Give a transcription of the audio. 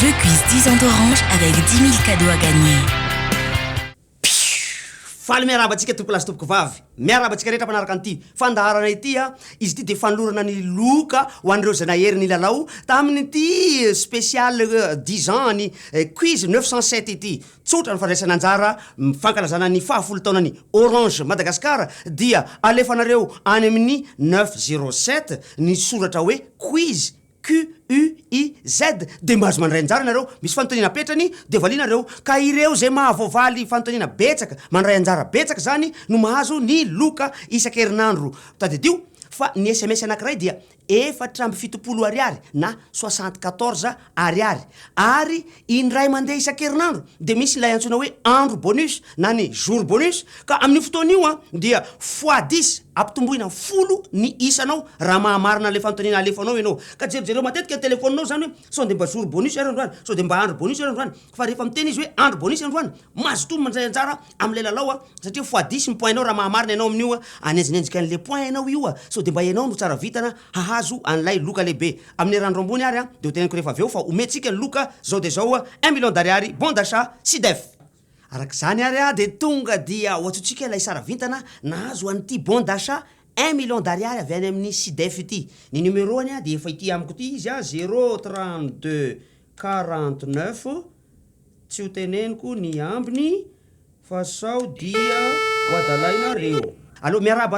Je cuise 10 ans d'orange avec 10 000 cadeaux à gagner. Faly miarahaba antsika tompolahy sy tompokovavy. Miarahaba antsika rehetra mpanaraka an'ity fandaharana ity. Izy ity dia fanolorana ny loka ho an'ireo izay nahery nilalao tamin'ity spécial 10 ans an'i Cuise 907 ity. Tsotra ny fandraisana anjara amin'ny fankalazana ny fahafolo taonan'ny Orange Madagascar dia alefanareo any amin'ny neuf zero sept ny soratra hoe quiz, QUIZ, dia mba azo mandray anjara ianareo, misy fanontaniana apetrany dia valianareo ka ireo izay mahavoavaly fanontaniana betsaka, mandray anjara betsaka izany no mahazo ny loka isan-kerinandro. Tadidio fa ny sms anankiray dia efatra amby fitopolo ariary na soixante quatorze ariary ary indray mandeha isan-kerinandro dia misy ilay antsoina hoe andro bonus na ny jour bonus ka amin'io fotoana io an dia fois dix ampitomboina folo ny isanao raha mahamarina ilay fanontaniana alefanao ianao ka jerijereo matetika ny telefoninao izany hoe sao dia mba jour bonus ary androany sao dia mba andro bonus ary androany fa rehefa miteny izy hoe andry bonise androany mazotoa mandray anjara am'lay lalao a satria foadisy ny point nao raha mahamarina ianao amin'io a anenjinenjika an'le point ianao io a sao de mba ianao no tsara vitana hahazo an'lay loka lehibe amin'ny eran'ny roa ambony ary a de ho teneniko rehefa avy eo fa omentsika ny loka zao de zao a un million d'ariary bon d'achat sidef arak'izany ary a de tonga dia hoantsointsika ilay sara vintana nahazo an'ity bon d'achat un million d'ariary avy any amin'ny sidef ity ny numeroany a de efa ity amiko ity izy a zero trente deux 49, tsy ho teneniko ny ambiny fa sao dia ho adalainareo. Allo, miarahaba